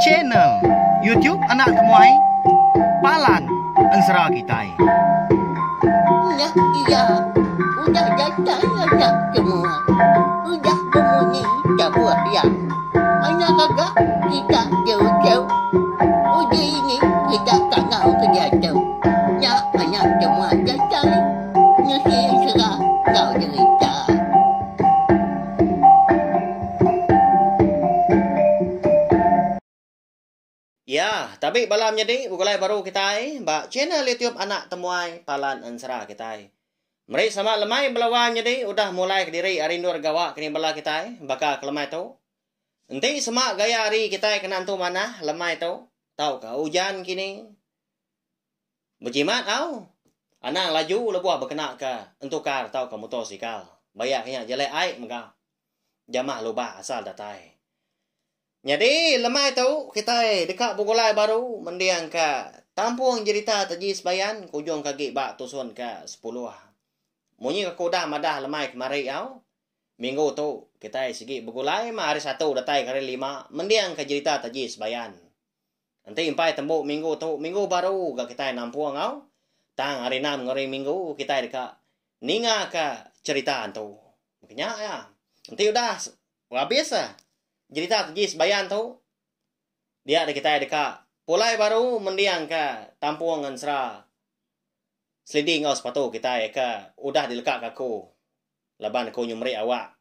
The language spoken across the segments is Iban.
Channel YouTube Anak Temuai Palan Ensera Kitai. Ulah iya udah datai anak temuai. Udah bemunyi tabuh iya. Anak gaga kita jauh-jauh. Udah ini kita tangau ke diatu. Nya anak temuai datai. Nusi ensera enggau derita. Iya, tabi bala menyadi begulai baru kitai ba channel YouTube Anak Temuai Palan Ensera kitai. Meri sama lemai bala wai menyadi udah mulai kediri ari endur gawa ke ni bala kitai baka ke lemai tu. Enti sema gaya hari kitai kena entu manah lemai tu tauka ujan kini. Bejimat au. Anang laju lebuh bekenaka entukar tauka mutosikal. Bayak nya jelek ai mega jamah lubah asal datai. Nyadi lemai tu kitai deka begulai baru mendingka tampung jerita taji sebayan ke ujungka agi ba tusun ke sepuluh. Munyi aku udah madah lemai kemari au, minggu tu kitai sigi begulai mah hari Satu datai ke hari lima mendingka jerita taji sebayan. Enti impai tembu minggu tu minggu baru ga kitai nampung enggau tang hari enam enggau hari minggu kitai deka ningaka cherita tu. Meh nya iya. Enti udah abis ah cherita tu ji sebayan tu dia deh kitai deka pulai baru mendingka tampung ngan sera selidi enggau sepatu kitai ke udah dilekaka aku laban aku nyemeri awak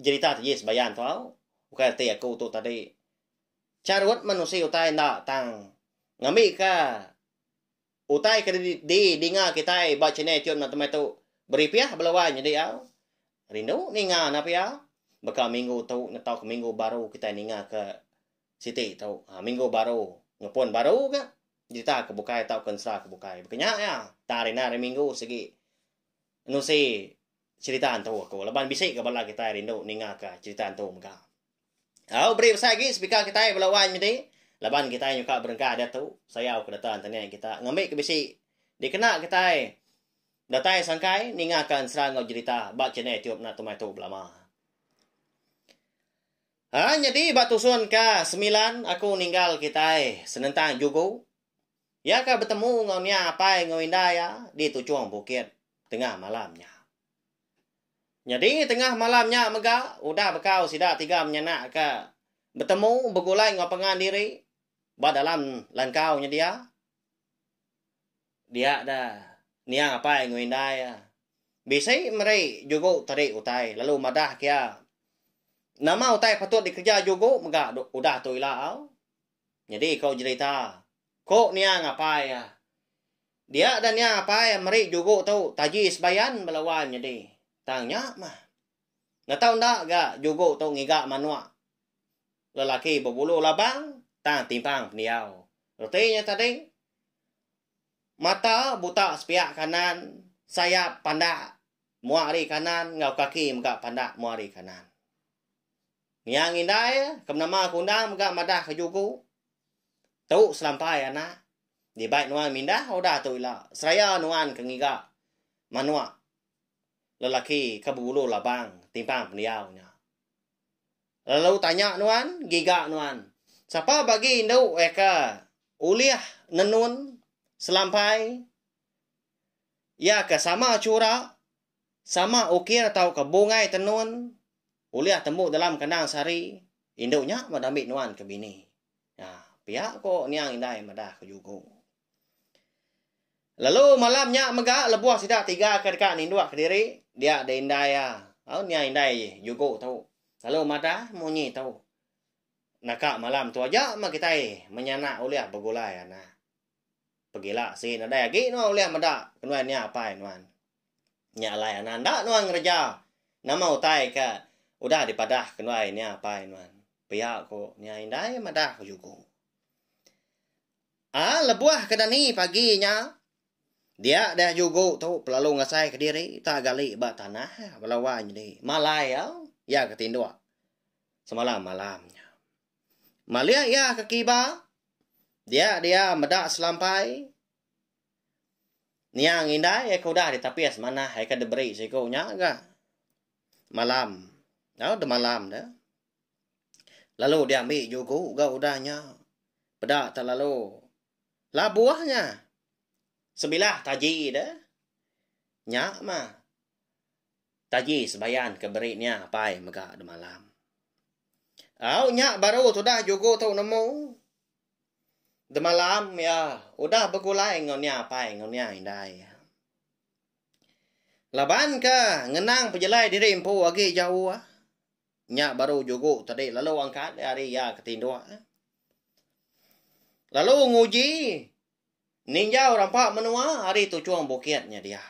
cherita tu ji sebayan tu au. Ukai reti aku tu tadi. Charut menusi utai enda tang ngambika utai ke didinga kitai ba channel YouTube enda temai tu beripih beluan nyadi au. Rindu ninga enda pia. Baka minggu tu netau ke minggu baru kitai ninga ke siti tu. Ha minggu baru ngepun baru ga berita ke bukai tauka ensera ke bukai. Baka nya iya tang ari enda ari minggu sigi nerusi serita entu aku laban bisi ga bala kitai rindu ninga ka serita entu mega. Au beri besai agi speaker kitai bala wan nyadi laban kitai nyuka berengkah diatu sayau ke data internet kita ngambi ke bisi dikena kitai datai sangkai ninga ka ensera enggau jerita ba channel YouTube na tumai tu belama. Ha nyadi ba tusun ka semilan aku ninggal kitai senentang jugu ya ka betemu enggau nia apai enggau inda ya di tuchung bukit tengah malam nya. Nyadi tengah malam nya mega udah bekau sida tiga menyanak ka betemu begulai enggau pangan diri ba dalam langkau nya dia. Dia da niang apai enggau indai iya. Bisi meri jugu tadi utai lalu madah ke iya nama utai patut dikereja jugu mega udah tu ila au. Nyadi ko jerita. Ko nia ngapai iya. Dia da nia ngapai meri jugo tu taji sebayan bala wan nyadi. Tang nya mah. Enda tau enda ga jugo tu ngiga manok lelaki bebulu labang tang timpang pendiau. Reti nya tadi mata buta sepiak kanan, sayap pandak mua ari kanan enggau kaki mega pandak mua ari kanan. Niang indai ke menama aku endang mega madah ke juku. Tu selampai anak. Dibai nuan mindah udah tu ila seraya nuan ke ngiga manok lelaki ke bebulu labang timpang pendiau nya. Lalu tanya nuan, giga nuan. Sapa bagi indu eka ulih nenun selampai iya ke sama chura, sama ukir tauka bungai tenun? Ulih tembu dalam kandang sehari, indu nya meda ambi nuan ke bini. Ya, pia ko niang indai madah ko jugo. Lalu malam nya mega lebuh sida tiga ke deka ninduk kediri, dia da indai iya. Au niang indai jugo tu. Lalu madah munyi tu. Naka malam tu aja meh kitai menyanak ulih begulai anak. Pegila sigi nadai agi nuan ulih meda kenuan nya apai nuan. Nya alai anak enda nuan ngereja nama utai ke udah dipadah kenuai nya apai nuan. Pia ku nya indai madah ku juku. A lebuh ke dani pagi nya dia deh juku tu pelalu ngasai ke diri utai gali ba tanah bala wai nyadi malai au iya ke tinduk semalam malam nya. Malih iya ke kiba, dia dia meda selampai niang indai iya ke udah ditapis manah iya ke diberi siku nya ga malam tau demalam dia lalu dia ambi juku ga udah nya peda te lalu labuh nya sebilah taji dia nya mah Taji sebayan ke beri nya apai mega demalam. Au nya baru tudah jugo tu nemu. Demalam iya udah begulai enggau nia apai enggau nia indai iya. Laban ke ngenang pejelai diri empu agi jauh. Nya baru jugo tadi lalu angkat ari iya ke tinduk. Lalu nguji ninjau rampa menua ari tuchung bukit nya dia.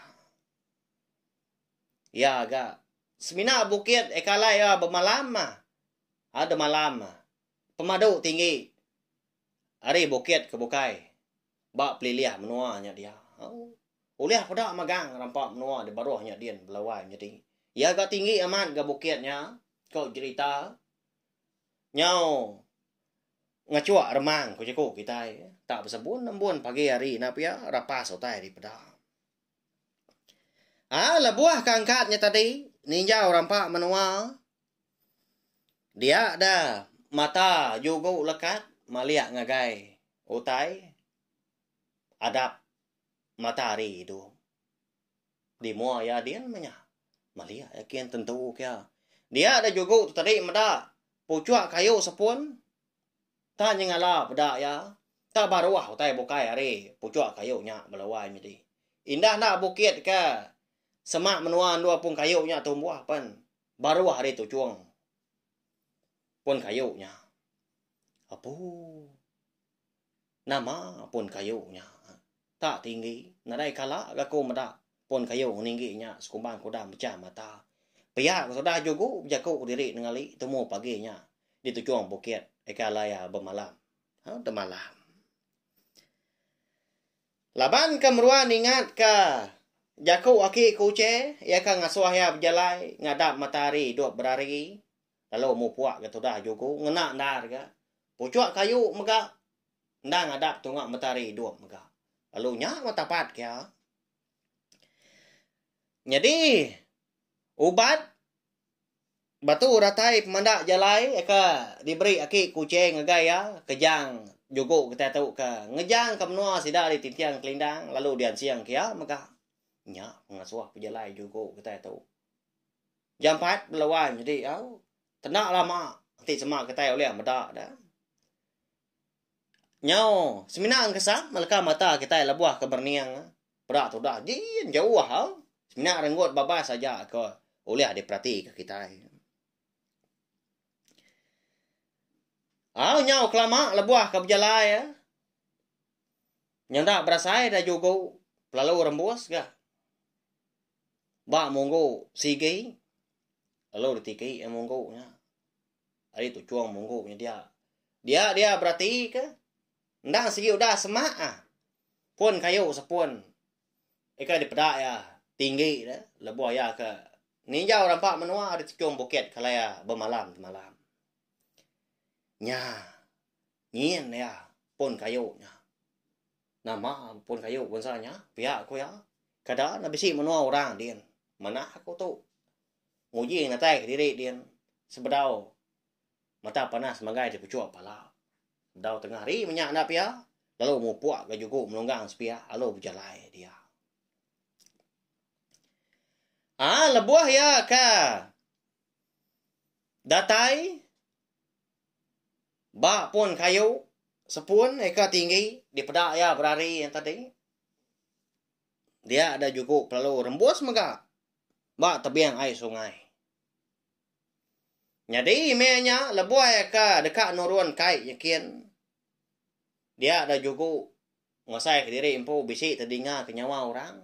Iya ga semina bukit eka alai iya bemalam ah. Ada malam ah. Pemadu tinggi ari bukit ke bukai ba pelilih menua nya dia. Oh. Ulih peda magang rampa menua di baruh nya din belawai nyadi. Iya ga tinggi amat ga bukit nya ko jerita nyau ngachuk remang ku jaku kitai tak besebun nembun pagi hari ina pia rapas utai dipeda. Ha, lebuh ke angkat nya tadi, ninjau rampa menua, dia da mata jugu lekat malik ngagai utai adap matahari tu. Di mua iya din meh nya. Malik iya kin tentu kia. Dia da jugu tu tadi meda puchuk kayu sepun Tang nyengala peda iya, tang baruh utai bukai ari puchok kayu nya bala wai nyadi. Indah enda bukit ke semak menua endur apung kayu nya tumbuh pen baruh ari tuchong pun kayu nya. Apuh. Nama pun kayu nya tak tinggi nadai kala ga ku meda pun kayu ninggi nya sekumbang ke udah mechah mata. Pia ku sudah jugu bejaku diri nengali tumu pagi nya di tujung bukit aka alai iya bemalam. Hau temalam. Laban ke meruan ingat ke jaku aki ku Uche, iya ke ngasuh iya bejalai ngadap matahari dok berari lalu mupuak ke tudah juku ngena ndar ga puchuk kayu mega endang adap tunga mentari idup mega lalu nya mah tapat kia nyadi ubat batu datai pemanda jalai ke diberi aki kuching ngagai iya kejang juku kitai tu ke ngejang ke menua sida ari Tintiang Kelindang lalu diansing ke iya mega nya pengasuh pejalai juku kitai tu. Jampat belawan nyadi au. Kena lama ti sema kitai ulih meda da. Nyau semina engkesang meleka mata kitai lebuh ke berening peda tudah jin jauh au. Semina renggut babas aja ke ulih diperatika kitai. Au nyau kelama lebuh ke bejalai nyenda berasai da jugu pelalu rembus ga. Ba munggu sigi lalu ditiki iya munggu nya. Ari tu chuang munggu nya dia. Dia dia berati ke endang sigi udah semak ah. Pun kayu sepun. Ika dipeda iya tinggi dia lebuh iya ke ninjau rampa menua ari tejung bukit kala iya bemalam semalam. Nya nyin iya pun kayu nya. Nama pun kayu bansa nya pia ku iya. Kada enda bisi menua orang din manah aku tu. Nguji ngatai ke diri din sebedau mata panas magai ti puchok pala. Dau tengah hari meh nya enda pia lalu mupuk ga juku melunggang sepia lalu bejalai dia. Aa lebuh iya ka datai. Ba pun kayu, sepun eka tinggi dipeda iya berari nya tadi, dia da juku pelalu rembus mega ba tebing ai sungai. Nyadi email nya lebuh eka deka nurun kai nyikin, dia da juku ngasaika diri empu bisi tedinga ke nyawa orang.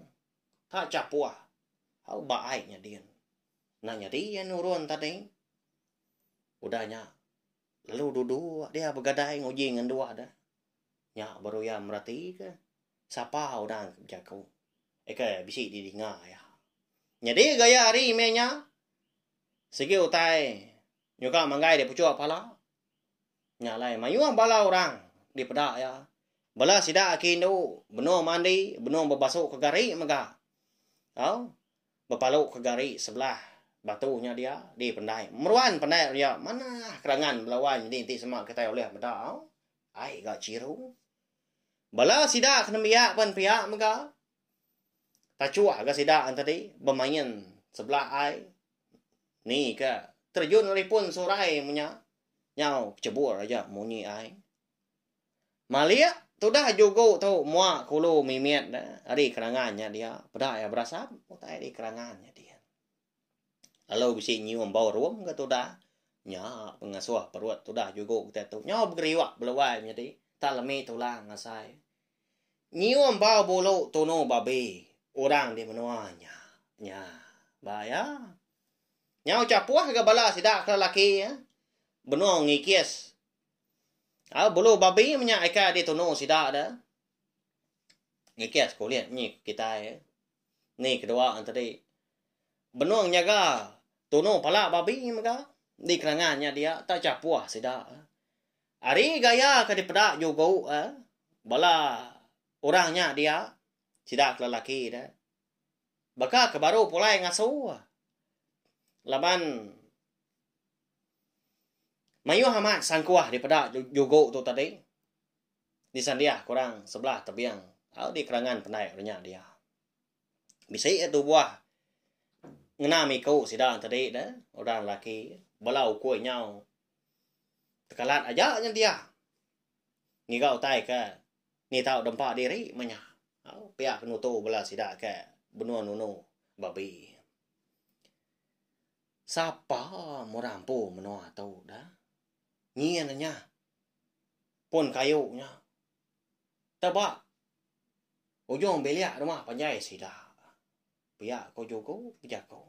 Ta chapuh au ba ai nyadin. Enda nyadi iya nurun tadi. udah nya lalu dudu dia begadai nguji ngan dua de nya baru iya meratika sapa udah ke bejaku aka bisi didinga iya. Nyadi gaya hari meh nya sigi utai nyuka manggai da puchok pala. Nya alai mayuh bala orang dipeda iya. Bala sida aki indu benung mandi, benung bebasu ke gari mega. Tau? Bepalu ke gari sebelah batu nya dia dipendai. Meruan pandai ria manah kerangan bala wan nyadi enti sema kitai ulih meda au. Ai ga chiru. Bala sida ke nembiak pen pia mega tachuh ga sida tadi bemain sebelah ai ni ke terjun ari pun surai menya nyau chebur aja munyi ai. Malik tudah jugu tu mua kulu mimit da ari kerangan nya dia peda iya berasap utai ari kerangan nya dia. Lalu bisi nyium bau rum ke tudah nya pengasuh perut tudah jugu kitai tu nyau begeriuk beluai nyadi tak lemi tulang asai. Nyium bau bulu tunu babi orang di menua nya. Nya ba iya. Nya ucha puah ga bala sida ke laki benung ngikis. Au bulu babi menya ika ditunu sida da. Ngikis kulit nyi kitai. Ni kedua tadi. Benung nyaga tunu pala babi mega di kelangan nya dia tak cha puah sida. Ari gaya ke dipeda jugu bala orang nya dia sida ke lelaki da. Baka ke baru pulai ngasu. Laban mayuh amat sangkuah dipeda jugo tu tadi disandiah ke orang sebelah tebing au di kerangan pendai orang nya dia. Bisi iya tubuh ngena miku sida tadi de orang lelaki bala ukui nyau tekalat aja nya dia ngiga utai ke Ni tau dempa diri meh nya. Au, pia ke nutu bala sida ke benung nunu babi. Sapa murah empu menua tu dah. Nyin nya pun kayu nya teba ujung bilik rumah panjai sida. Pia ko juku bejaku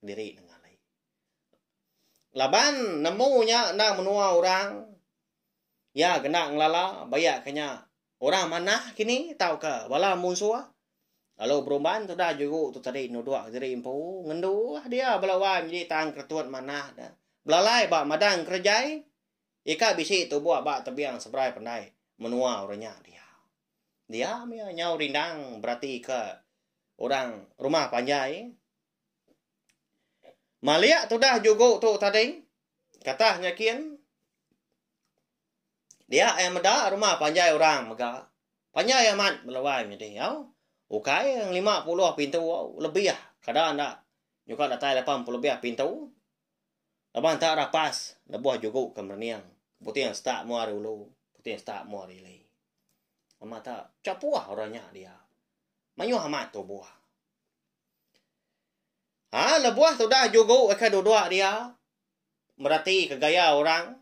diri nengah alai. Laban nemu nya endang menua orang. Iya kena ngelala bayak ke nya orang manah kini tauka bala munsuh. Lalu berumban tudah juru tu tadi nuduk diri empu ngendu lah dia bala wai menjadi tang keretut manah da. Belalai ba madang kerejai ika bisi tubuh ba tebing seberai pandai menua orang nya dia. Dia mia nyau rindang beratika orang rumah panjai Malik tudah jugo tu tadi katah nyakin dia iya meda rumah panjai orang mega panjai amat belawai menyadi au ukai lima puluh pintu au lebih kada enda nyuka datai lapan puluh lebih pintu laban enta rapas lebuh jugo ke merening buting seta mua ari ulu buting seta mua ari ili amat chapuh orang nya dia mayuh amat tubuh. Ha lebuh tudah jugu ika duduk dia merati ke gaya orang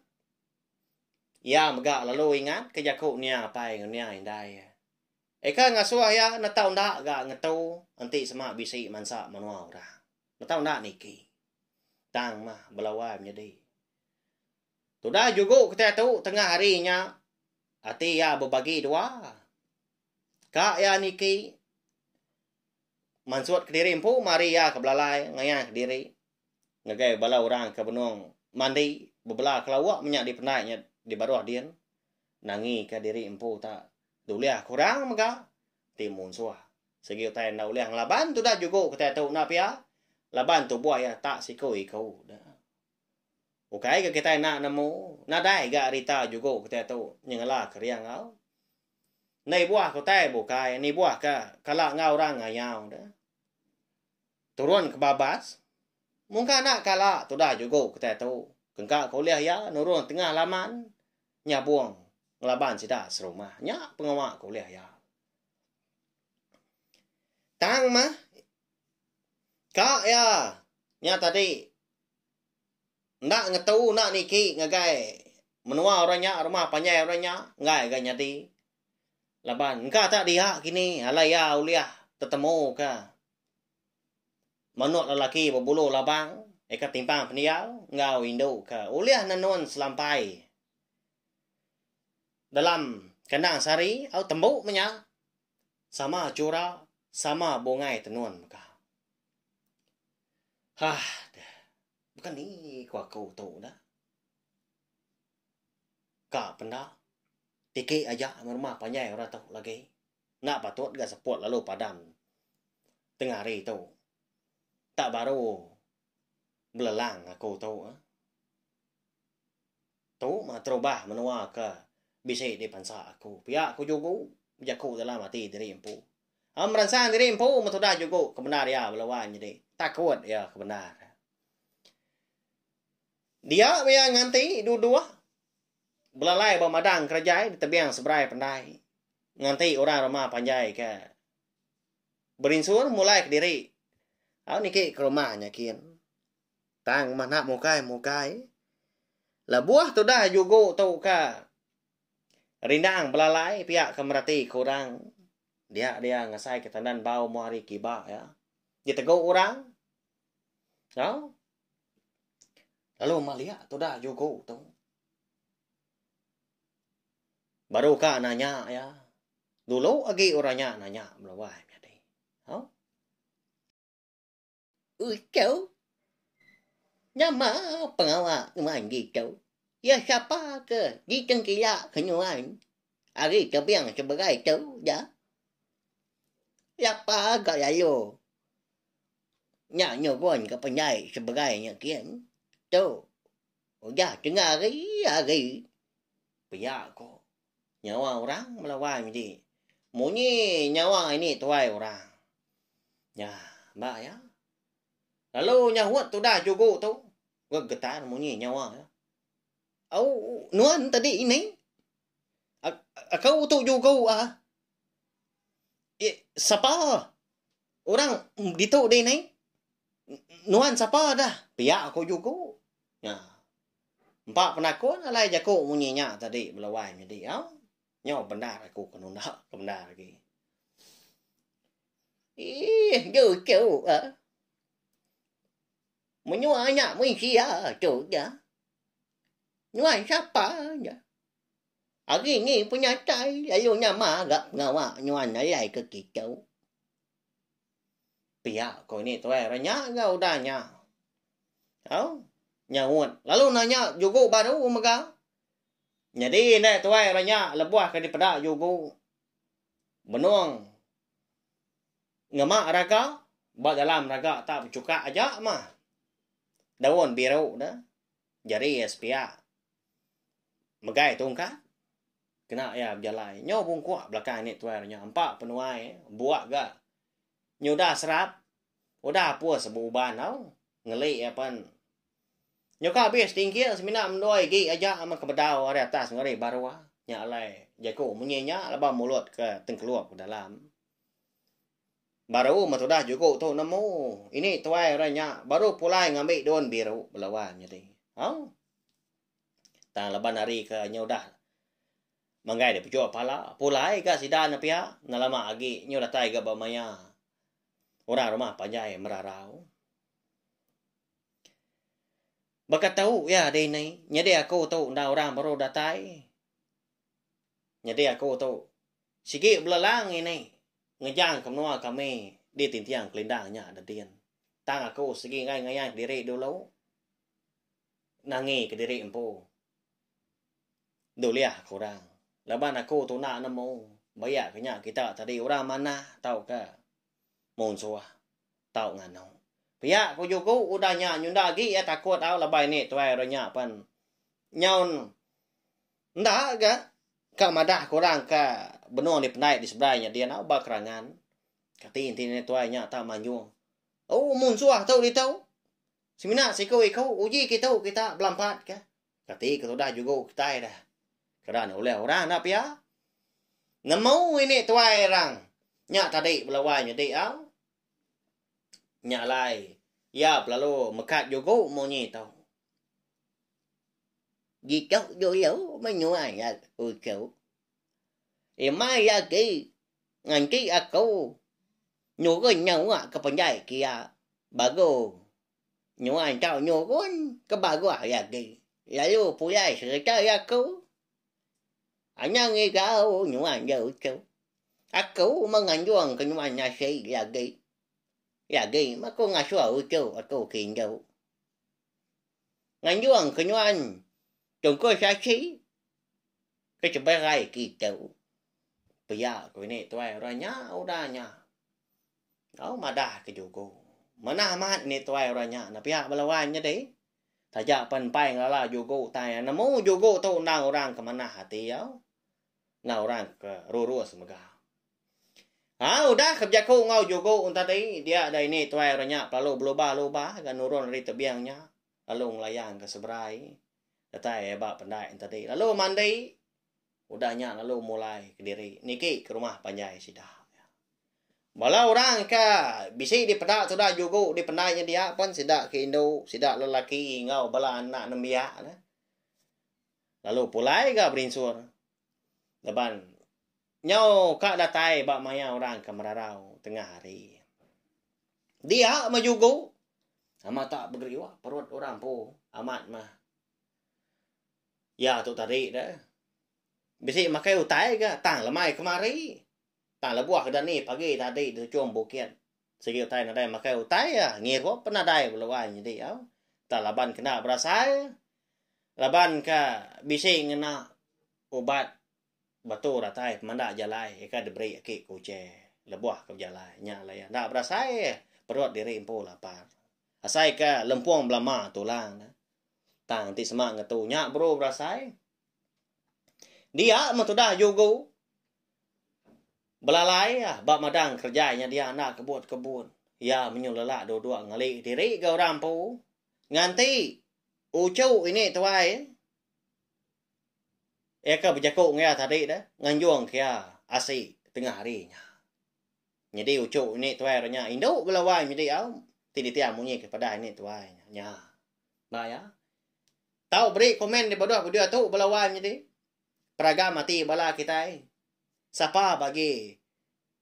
iya mega lalu ingat ke jaku nia apai enggau nia indai iya. Ika ngasuh iya netau enda ga ngetu enti sema bisi mansa menua orang. Netau enda niki. Tang mah belawai menyadi. Tudah jugu kitai tu tengah hari nya ati iya bebagi dua ka iya niki mansut kediri empu mari iya ke belalai ngayan kediri ngagai bala orang ke benung mandi bebela ke lauk menya dipendai nya dibaruh din nangi ka diri empu ta dulih ke orang mega ti munsuh sigi utai enda ulih ngelaban tuda jugo kitai tu enda pia laban tubuh iya ta siku iku da. Ukai ga kitai enda nemu, nadai ga rita jugo kitai tu nyengela keria enggau endai buah utai bukai nibuh ka kala enggau orang ngayau deh. Turun ke babas mungka enda kala tudah jugo kitai tu engka ke ulih iya nurun tengah laman nyabong ngelaban sida serumah. Nya pengawa ke ulih iya. Tang mah Ka iya nya tadi enda ngetu enda niki ngagai menua orang nya rumah panjai orang nya enggai ga nyadi laban engka ta dia kini alai iya ulih tetemuka manuk lelaki bebulu labang aka timpang pendiau enggau indu ke ulih nenun selampai dalam kandang sehari au tembu menya. sama chura sama bungai tenun mega. Hah deh. Baka ni ku aku tu dah. Ka penda tiki aja meh rumah panjai orang tu lagi. Enda patut ga seput lalu padam tengah hari tu. Tak baru belelang aku tu. Tu mah terubah menua ke bisi di pensa aku. Pia ku Jugu bejaku dalam ati diri empu. Am meransang diri empu meh tudah Jugu ke bendar iya bala wan nyadi takut iya ke bendar. Dia meh iya nganti duduh belalai ba madang kerejai di tebing seberai pendai nganti orang rumah panjai ke berinsur mulai kediri lalu niki ke rumah nya kin. Tang meh nak mukai-mukai. Lebuh tudah jugu tu ka rindang belalai pia ke mereti ke orang. Dia dia ngasai ke tandan bau mu hari kiba ya. Di tegu orang. Ha? Lalu maliak tudah jugu tu. Baru ka nanya ya. Dulu agi orang nya nanya meluai. Utou, Nama pengawa nuan ditou? Iya sapa ke ditengkila ke nuan ari tebing seberai tu da? Lapa ga lalu nya nurun ke pendai seberai nya gin? Tu udah tengah ari-ari pia ko. Nyawa orang melawai medi. Munyi nyawa ini tuai orang. Nya, ba ya. Lalu nyahut tudah jugu tu. Ke getar munyi nyawa ya. Au nuan tadi ini. Aku tu jugu ah. Eh, sapa? Orang ditu di ni. Nuan sapa dah? Pia aku jugu. Nya. Empa penakun alai jaku munyi nya tadi bela wai mih diau. Nyau bendar aku ke nunda ke bendar agi. Iih ju tu ah. Menyua nya mih sia tu ja. Nyuai sapa ja. Agi ni penyatai lalu nya maga pengawa nyuan alai ke kitu. Pia ko ini tuai renya ga udah nya. Au nyaut lalu nanya jugu baru mega. Nyadi enda tuai renya lebuh ke dipeda jugu benung ngema raga ba dalam raga tak bechuka aja mah daun biru da jari sepia megai tungkat. Kena iya bejalai nyu bungkuk belakang ini tuai renya empa penuai buk ga nyudah serap udah apus ba uban tau ngeli iya pen nyuka abis tingkil semina mendua igi aja meh ke bedau ari atas enggau ari baruh nya alai jaku munyi nya laban mulut ke tengkelup ke dalam baru meh tudah juku tu nemu ini tuai renya baru pulai ngambi daun biru belawan nyadi au. Tang laban hari ke inya udah manggai deh pejok pala, pulai ga sida ne pia enda lama agi nyu datai ga ba maya orang rumah panjai merarau. Baka tu iya deh nai, nyadi aku tu enda orang baru datai. Nyadi aku tu sigi belalang ngi nai ngejang ke menua kami di Tintiang Kelindang nya nedin. Tang aku sigi ngayan diri dulu. Ngangi kediri empu. Ndulih ke orang. Laban aku tuna nemu bayak ke nya kita tadi orang manah tauka munsuh tau nganu. Pia ku jugu udah nya nyunda agi iya takut au laban ini tuai orang nya pen nyaun enda ga ka madah ke orang ka benung dipendai di seberai nya din au ba kerangan. Kati enti tuai nya tak manjung. Oh munsuh tu ditu. Semina siku iku uji ke tu kita belampat ke. Kati ke sudah jugu kitai dah. Kena ni ulih orang dah pia. Nemu ini tuai orang. Nya tadi belawai nyedi au. Nya alai ia belalu mekat jugu munyi tu. Gitok dulu menyuai aku. Imai iya agi nganti aku nyurun nyawa ke penjai ke iya baru nyuan tau nyurun ke baruh iya agi lalu pulai sereta iya aku. Anang igau nyuan iya uchu. Aku meh nganjung ke nyuan nasi iya agi. Iya agi meh aku ngasuh uchu aku ke indu. Nganjung ke nuan Tungku Sachi ke seberai kitu. Pia ku ini tuai orang nya udah nya. Au madah ke juku. Manah amat ini tuai orang nya enda pia bala wan nyadi. Taja pen empai ngelala juku tai nemu juku tu endang orang ke manah ati au. enggau orang ke rurus mega. Ha udah ke bejaku enggau jugu un tadi dia dah ini tuai orang nya pelalu belubah-lubah ga nurun ari tebing nya lalu ngelayan ke seberai datai ba pendai un tadi lalu mandi udah nya lalu mulai kediri niki ke rumah panjai sida. Bala orang ke bisi dipeda tuda jugu di pendai nya dia pen sida ke indu sida lelaki enggau bala anak nembiak ne. lalu pulai ga berinsur laban nyau ka datai ba maya orang ke merarau tengah hari. Dia meh jugu amat tak begeriwa perut orang empu amat meh. Ya tu tadi da. Bisi makai utai ga tang lemai kemari. Tang lebuh ke dani pagi tadi di Tuchum Bukit. Sigi utai nadai makai utai ya ngirup nadai beluan nyedi au. Tak laban kena berasai Laban ka bisi ngena ubat batu ratai pemanda jalai ika diberi aki ku Uche lebuh ke bejalai nya alai iya enda berasai perut diri empu lapar. Asai ka lempung belama tulang ne tang ti sema ngetu nya baru berasai. Dia meh tudah jugu belalai iya ba madang kerja nya dia enda kebut kebun. Iya menyulela duduk ngali diri ga orang empu nganti Uchu ini tuai. Iya ke bejaku enggau iya tadi dah, nganjung ke iya asi tengah hari nya. Nyadi uchu ini tuai orang nya indu bala wang nyadi au ti ditia munyi ke padah ini tuai nya. Ba iya. Tau beri komen di baduh video tu bala wang nyadi. Peragam ati bala kitai. Sapa bagi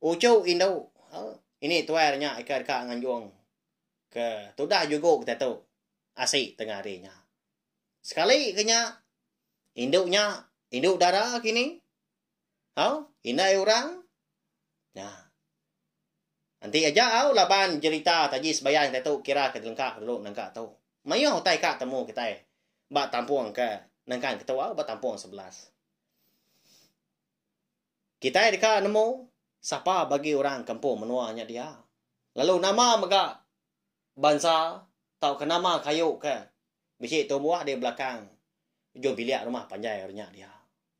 uchu indu au ini tuai orang nya ika deka nganjung ke tudah jugu kita tu. asi tengah hari nya. Sekali ke nya, indu nya, indu dara kini, au, indai orang, nya. Nanti aja au laban jerita taji sebayang kita tu kira ke lengka dulu nengka tu. Mayuh utai ka temu kitai ba tampung ke nengkan ke tu au ba tampung sebelas. Kitai deka nemu sapa bagi orang kampung menua nya dia. Lalu nama mega bansa tauka nama kayu ke bisi tumbuh di belakang ujung bilik rumah panjai orang nya dia.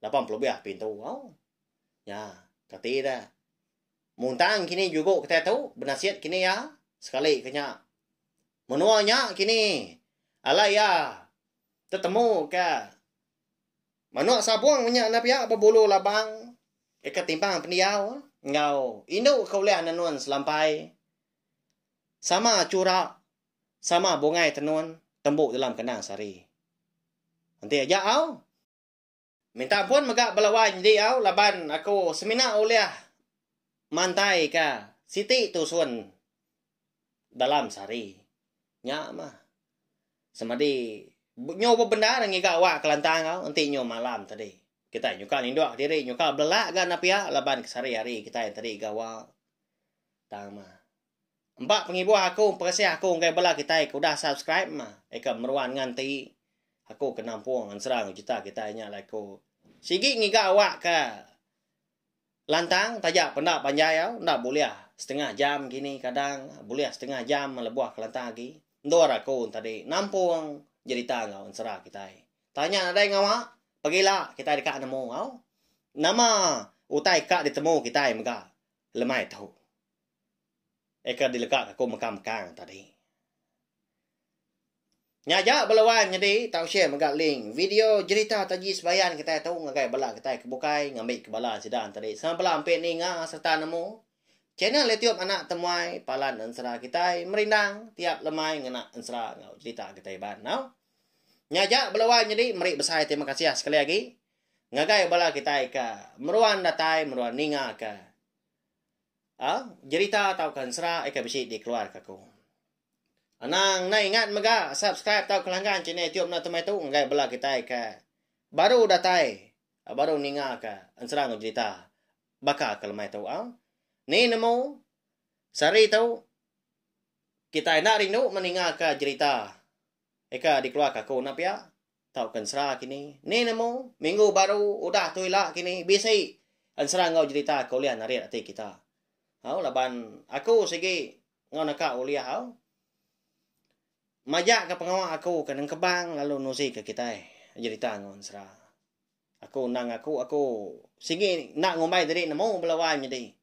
Lapan puluh lebih pintu tau. Nya, kati dia. Muntang kini jugo kitai tu benasit kini iya sekali ke nya. Menua nya kini alai iya tetemu ke manuk sabung nya enda pia bebulu labang deka timbang pendiau enggau indu ke ulih nenun selampai. Sama chura, sama bungai tenun tembu dalam kendang sehari. Enti aja au. Minta ampun mega bala wai nydi au laban aku semina ulih mantai ka siti tusun dalam sehari. Nya mah. Semadi nyu bebendar ngiga awak kelantang au enti nyu malam tadi. Kitai nyuka nindok diri nyuka belelak ga enda pia laban kesehari-hari kitai tadi gawa. Tang mah. Empa pengibuh aku peresih aku enggai bela kitai ke udah subscribe mah ikam meruan ngan ti aku ke nampung ensera ngejuta kitai nya alai ku. Sigi ngiga awak ke lantang taja penda panjai au enda bulih setengah jam kini kadang bulih setengah jam lebuh ke lantang agi. Endur aku entadi nampung jerita enggau ensera kitai. Tang nya nadai ngawa pegila kitai deka nemu au. Nama utai ka ditemu kitai mega Lemai tu. Eka dilega ka aku mega mekang tadi. Nya aja bala wan nyadi tau share mega link video jerita Taji Sebayan kitai tu ngagai bala kitai ke bukai ngambi ke bala sida tadi sama bala ampi ninga sereta nemu channel YouTube Anak Temuai Palan Ensera kitai merindang tiap lemai ngena ensera enggau jerita kitai Iban tau. Nya aja bala wan nyadi meri besai terima kasih sekali agi. Ngagai bala kitai ke meruan datai meruan ninga ke a jerita tauka ensera ke bisi dikeluarka aku. Anang enda ingat mega subscribe tauka langgan channel YouTube enda temai tu ngagai bala kitai ke baru datai baru ninga ke ensera enggau jerita baka ke lemai tu a. Ni nemu sehari tu kitai enda rindu meninga ke jerita ke dikeluarka aku enda pia. Tauka ensera kini. Ni nemu, minggu baru udah tu ila kini bisi ensera enggau jerita ke ulih narit ati kita. Au laban aku sigi enggau neka ulih au majaka pengawa aku ke nengkebang lalu nuzika kitai jerita enggau ensera. Aku endang aku aku sigi enda ngumbai diri nemu bala wai nyadi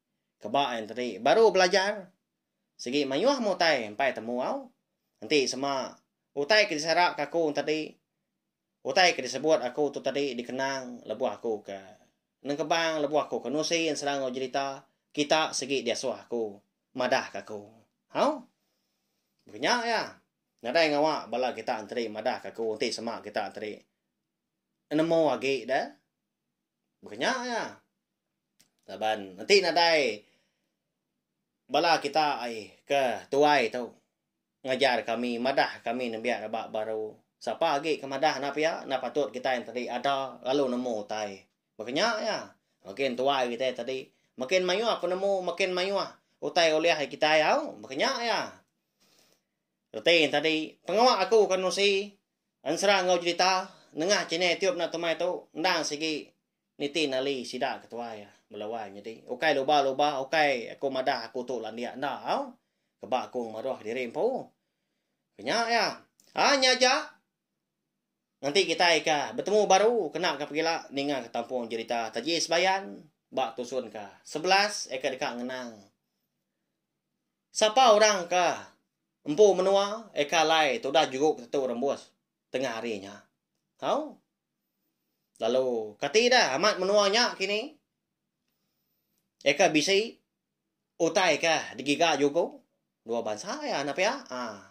ke ba ain tadi baru belajar. Sigi mayuh meh utai empai temu au. Enti sema, utai ke disarap ke aku tadi, utai ke disebut aku tu tadi dikenang lebuh aku ke nengkebang lebuh aku ke nusi enserang enggau jerita kita sigi diasuh aku madah ke aku. Hau. Baka nya iya. Nadai ngawa bala kita enti madah ke aku enti sema kita enti nemu agi da. Baka nya aja. Laban enti nadai bala kita ai ke tuai tu ngajar kami, madah kami nembiak rebak baru, sapa agi ke madah enda pia, enda patut kitai tadi ada lalu nemu utai. Baka nya aja. Makin tuai kitai tadi, makin mayuh penemu, makin mayuh utai ulih ari kitai au. Baka nya aja. Reti tadi, pengawa aku ke nerusi. Ensera enggau Jelita nengah channel tiup enda tumai tu endang sigi niti nali sida ke tuai bela wai nyadi ukai luba luba ukai aku madah aku tu landik enda au keba aku ngemeruh diri empu kenya ya aa nya aja nganti kitai ka betemu baru kena ka pegila ninga ka tampung Jelita taji sebayan ba tusun ka sebelas eka deka ngenang Sapa orang ke empu menua eka alai tudah juruk tentu rembus tengah hari nya. Au. Lalu kati dah amat menua nya kini eka bisi utai ke digiga juku dua bansa iya enda pia. Ah.